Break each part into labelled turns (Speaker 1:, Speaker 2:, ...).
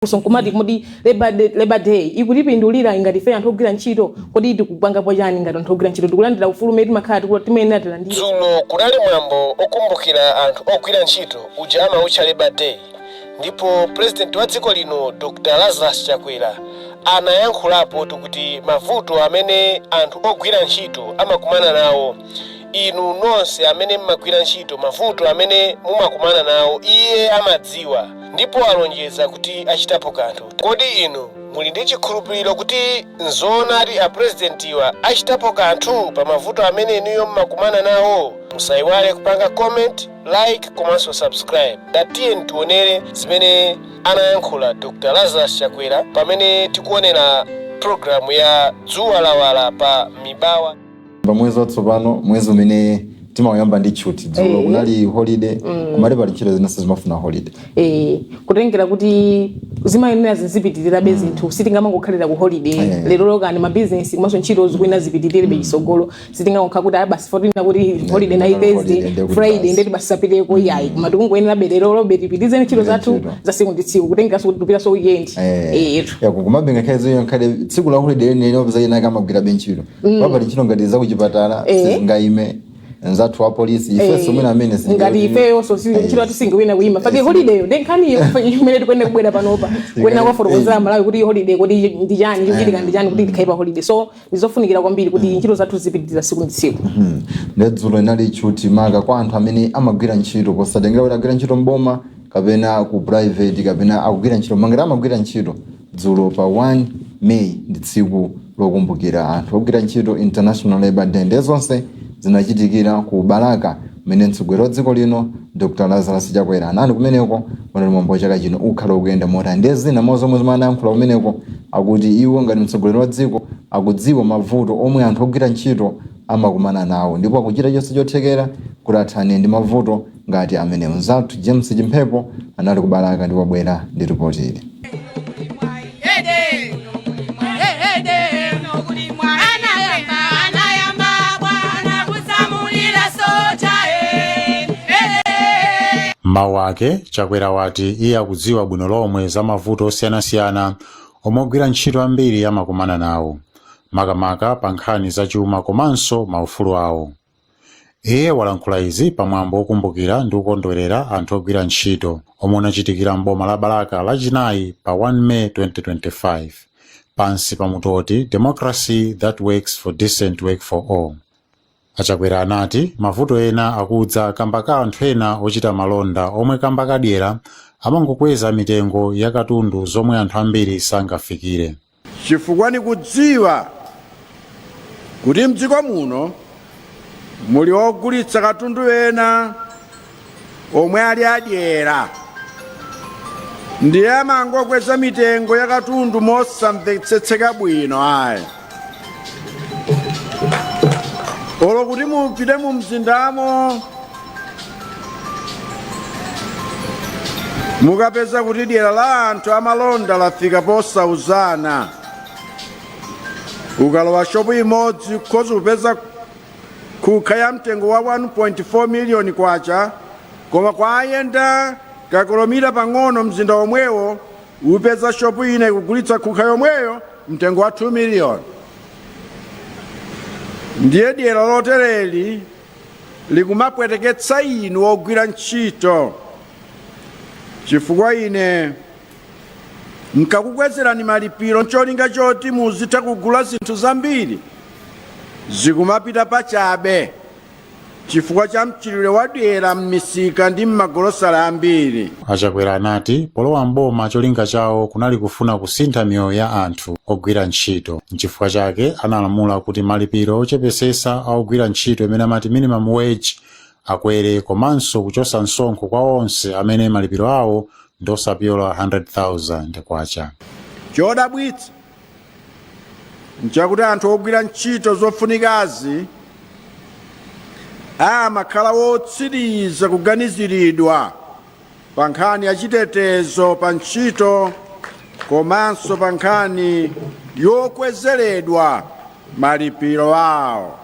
Speaker 1: funso nkumati kodi labor day ikutipindulira ngati ife anthu ogwira ntchito kodi tikupangapo chani ngati anthu ogwira ntchito tikulandira ufulu umene timakhala ti- timayenera tilandire dzulo kunali mwambo okumbukira anthu ogwira ntchito uja amautcha labor day ndipo pulezidenti wa dziko lino dr lazarus chakwera anayankhulapo kuti mavuto amene anthu ogwira ntchito amakumana nawo inu nonse amene mmagwira ntchito mavuto amene mumakumana nawo iye amadziwa ndipo alonjeza kuti achitapo kanthu kodi inu muli ndi chikhulupiriro kuti nzoonadi apurezidentiwa achitapo kanthu pa mavuto amene inuyo mmakumana nawo musayiwale kupanga comment like komanso subscribe ndiye tiyeni tionere zimene anayankhula dr lazarus chakwera pamene tikuonera programu ya dzuwa lawala pa mibawa pa mwezi watsopano mwezi umene timauyamba ndi tchuthi dzulo Eh. kunali holiday kumati pali ntchito zinanso zimafuna holiday eh, kutengera kuti zimayenera zizipitirirabe zinthu sitingamangokhalira ku holiday Eh. lero lokani mabizinesi komanso ntchito zikuyenera zipitirirebe chitsogolo sitingangokhala kuti ayi basi potina kuti holiday inali holiday thursday ndiye kuti friday basi. ndiye kuti basi tisapiteko iyayi koma tikungoyenera berero lobe tipitirize ntchito Ndiye zathu ntchito. za siku ndi tsiku kutengeranso kuti tikupitanso weekend Eh, Eh, ya kukumabenga khaizo iyo ikhale tsiku la holiday lenileni upeza ena akumagwirabe ntchito mm. pali ntchito ngati zakuchipatala eh. sizingaime anzathu apolisi eh, ifenso mwina amene ngati ifeyonso eh. chilo tisingawina kuima pake eh. holidayo ndi nkhaniyo imene tikuyenera kubwera panopa kuyenera kuwafotokozera amalawi kuti holiday kuti ndi chani chikuchitika ndi chani kuti tikhale pa holiday so ndizofunikira kwambiri kuti mm. ntchito zathu zipitiriza siku ndi tsiku mm-hmm. nde dzulo inali tchuthi maka kwa anthu amene amagwira ntchito posatengera kuti agwira ntchito mboma kapena ku private kapena akugwira ntchito mangati amagwira ntchito Dzulo pa 1 May ndi tsiku lokumbukira anthu ogwira ntchito International Labour Day ndiye zonse zinachitikira ku Balaka mmene mtsogoleri wa dziko lino Dr. Lazarus Chakwera anali kumeneko unali mwambo wa chaka chino wakhala ukuyenda motani ndiye zina mwa zomwe amayankhula kumeneko akuti iwo ngati mtsogoleri wa dziko akudziwa mavuto omwe anthu ogwira ntchito amakumana nawo ndipo akuchita chonse chothekera kuti athane ndi mavuto ngati amenewo. Mzathu James Chimphepo anali ku Balaka ndipo wabwera ndi ripoti ili. M'mawu ake, Chakwera wati iye akudziwa bwino lomwe za mavuto osiyanasiyana omwe ogwira ntchito ambiri amakumana nawo, makamaka pa nkhani zachuma komanso maufulu awo. Iye walankhula izi pa mwambo wokumbukira ndi kukondwerera anthu ogwira ntchito omwe unachitikira m'boma la Balaka Lachinayi pa 1 May 2025 pansi pa mutu woti Democracy That Works for Decent Work for All. A Chakwera anati mavuto ena akudza kamba ka anthu ena ochita malonda omwe kamba ka dyera amangokweza mitengo ya katundu zomwe anthu ambiri sangafikire. Chifukwa nikudziwa kuti m'dziko muno muli ogulitsa katundu ena omwe ali adyera, ndiye amangokweza mitengo ya katundu mosamvetsetseka bwino ayi. Olo kuti mupite mumzindamo mukapeza kuti dyera la anthu amalonda lafika posauzana ukalowa shopu imodzi ukhoza kupeza khukha ya mtengo wa 1.4 miliyoni kwacha koma kungoyenda kakilomita pang'ono mzinda womwewo upeza shopu ina ikugulitsa khukha yomweyo mtengo wa 2 miliyoni ndiye dyera lotereli likumapweteketsa inu ogwira ntchito chifukwa ine nkakukwezerani malipiro ncholinga choti muzitha kugula zinthu zambiri zikumapita pachabe chifukwa cha mchitidwe wadyera m'misika ndi m'magolosale ambiri A Chakwera anati polowa m'boma cholinga chawo kunali kufuna kusintha miyoyo ya anthu ogwira ntchito. Nchifukwa chake analamula kuti malipiro ochepesesa a ogwira ntchito imene amati minimum wage akwere komanso kuchosa msonkho kwa onse amene malipiro awo ndi osapyola K100,000. Chodabwitsa nchakuti anthu ogwira ntchito zofunikazi amakhala wotsiriza kuganiziridwa pa nkhani ya chitetezo pa ntchito komanso pa nkhani yokwezeredwa malipiro awo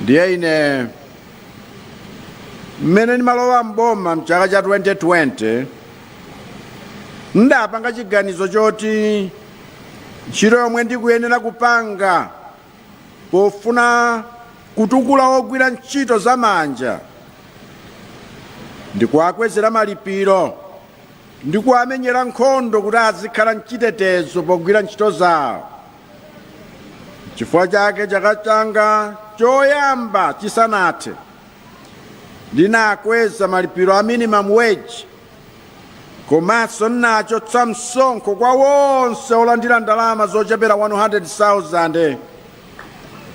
Speaker 1: ndiye ine mmene ndimalowa mboma mchaka cha 2020 ndapanga chiganizo choti ntchito yomwe ndikuyenera kupanga pofuna kutukula ogwira ntchito za manja ndikuwakwezera malipiro ndikuwamenyera nkhondo kuti azikhala mchitetezo pogwira ntchito zawo chifukwa chake chaka changa choyamba chisanathe ndinakweza malipiro a minimum wage komanso ndinachotsa msonkho kwa wonse olandira ndalama zochepera 100,000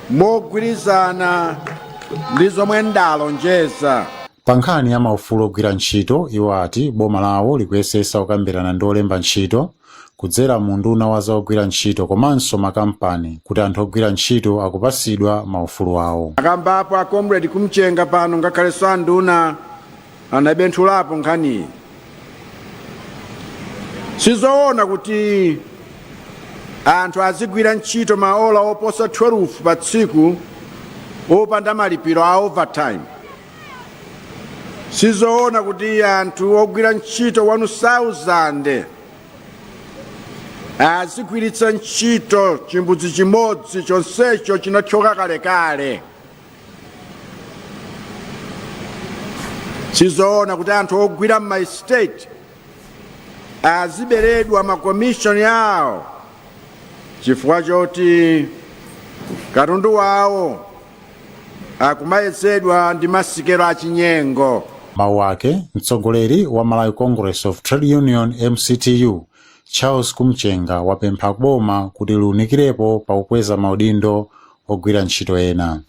Speaker 1: mogwirizana ndi zomwe ndalonjeza pa nkhani ya maufulu ogwira ntchito iwo ati boma lawo likuyesesa kukambirana ndi olemba ntchito kudzera mu unduna wa za ogwira ntchito komanso makampani kuti anthu ogwira ntchito akupasidwa ma ufulu awo. Akamba apo a Comrade Kumchenga pano ngakhalenso a nduna anabenthulapo nkhaniyi. Sizoona kuti anthu azigwira ntchito maola oposa 12 pa tsiku opanda malipiro a overtime. sizoona kuti anthu ogwira ntchito 1000 azigwiritsa ntchito chimbudzi chimodzi chonsecho chinathyoka kalekale sizoona kuti anthu ogwira m'maestate aziberedwa makomishoni awo chifukwa choti katundu wawo akumayezedwa ndi masikelo achinyengo. Mawu ake, mtsogoleri wa Malawi Congress of Trade Union, MCTU, Charles Kumchenga wapempha ku boma kuti liunikirepo pa kukweza maudindo ogwira ntchito ena.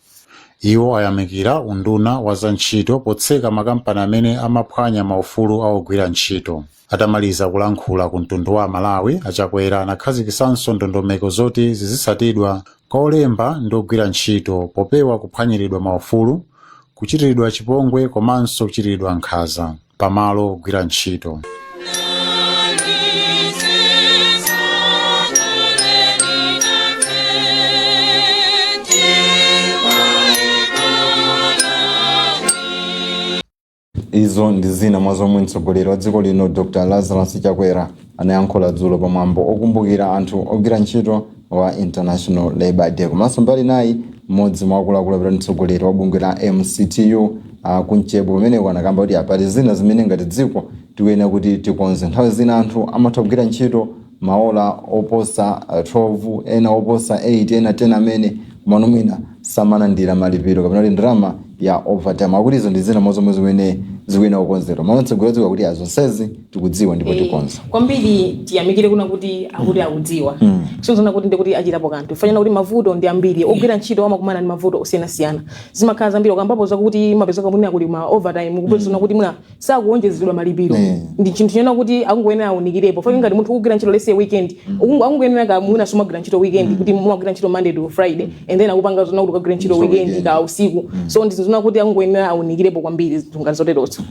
Speaker 1: Iwo ayamikira unduna wa za ntchito potseka makampani amene amaphwanya maufulu a ogwira ntchito. Atamaliza kulankhula ku mtundu wa Amalawi, a Chakwera anakhazikisanso ndondomeko zoti zizisatidwa kwa olemba ndi ogwira ntchito popewa kuphwanyiridwa maufulu, kuchitiridwa chipongwe komanso kuchitiridwa nkhaza pa malo ogwira ntchito. izo ndi zina mwa zomwe mtsogoleri wa dziko lino dr lazarus chakwera anayankhula dzulo pa mwambo okumbukira anthu ogwira ntchito wa international labour day komanso mbali nayi mmodzi mwa akuluakulu apo ndi mtsogoleri wa bungwe la mctu a kumchenga pameneko anakamba kuti pali zina zimene ngati dziko tikuyenera kuti tikonze nthawi zina anthu amatha kugwira ntchito maola oposa 12 ena oposa 8 ena 10 amene mano mwina samalandira malipiro kapena kuti ndalama ya overtime akuti izo ndi zina mwa zomwe zimene zikuyenera kukonzedwa mano mtsogoleri wa dziko akuti azonsezi tikudziwa ndipo tikonza kwambiri tiyamikire kunena kuti akuti akudziwa sizona kuti ndikuti achitapo kanthu fanyana kuti mavuto ndi ambiri ogwira ntchito amakumana ndi mavuto osiyanasiyana zimakhala zambiri ukambapo zakuti mapezeka mwina kuli ma overtime kupezona kuti mwina sakuwonjezedwa malipiro Eh. ndi chinthu chena kuti akungoyenera awunikirepo chifukwa ngati munthu ukugwira ntchito lese weekend ukungo- akungoyenera ka mwina sumagwira ntchito weekend kuti mumagwira ntchito monday to friday and then akupanga zona kuti ukagwira ntchito Ntchito weekend weekend. ka usiku so ndi zinthu zina kuti akungoyenera awunikirepo kwambiri zinthu ngati zoterozo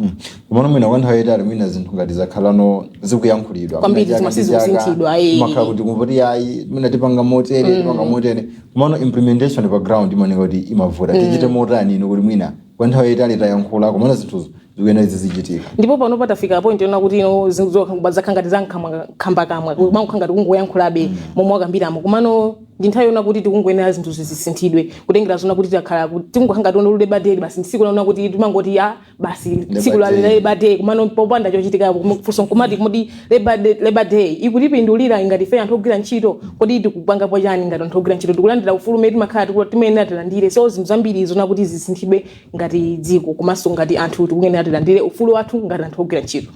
Speaker 1: komano mwina kwa nthawi yayitali mwina zinthu ngati zakhalano zikuyankhulidwa Kwambiri Mwina zomwezo chaka ndi chaka, sizikusinthidwa, eh. amakhala akuti kumvoti ayi mwina tipanga motere tipanga motere komano implementation pa ground imaoneka kuti imavuta tichite motani ino kuti mwina kwa nthawi yayitali tayankhula komano zinthuzo zikuyenera zizichitika ndipo pano patafika point yonena kuti ino zinthu zokha- zakhala ngati zankhambakamwa kumakhala ngati kungoyankhulabe momwe wakambiramo komano ndi nthawi yonena kuti tikungoyenera zinthu zisinthidwe kutengera zona kuti takhala ku- tikungokhala ngati onolule bade basi tsiku lina kuti timangoti a basi tsiku la Labor day. leba day komano popanda chochitika kufunsa nkumati kodi Labour Day, Labour Day ikutipindulira ngati ife anthu ogwira ntchito kodi tikupangapo chani ngati anthu ogwira ntchito tikulandira ufulu umene timakhala tikula- timayenera tilandire so zinthu zambiri zonena kuti zisinthidwe ngati dziko komanso ngati anthu tikuyenera tilandire ufulu wathu ngati anthu ogwira ntchito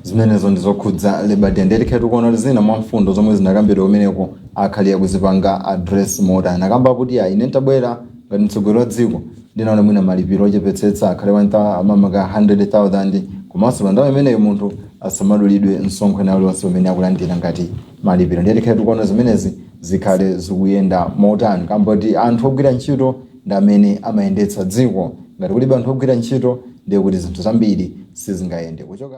Speaker 1: zimenezo ndi zokhudza Labour Day ndiye tikhala tikuona kuti zina mwa mfundo zomwe zinakambidwa kumeneko akhale akuzipanga address motani anakamba kuti ayi ine ntabwera ngati mtsogoleri wa dziko Ndinaonetsetsa mwina malipiro ochepetsetsa akhale 1000 mamaka 100,000 komanso pa nthawi imeneyo munthu asamadulidwe msonkho ena uliwonse umene akulandira ngati malipiro. Ndiye tikhale tikuona zimenezi zikhale zikuyenda motani kamboti anthu ogwira ntchito ndi amene amayendetsa dziko. Ngati kulibe anthu ogwira ntchito ndiye kuti zinthu zambiri sizingayende. Kuchoka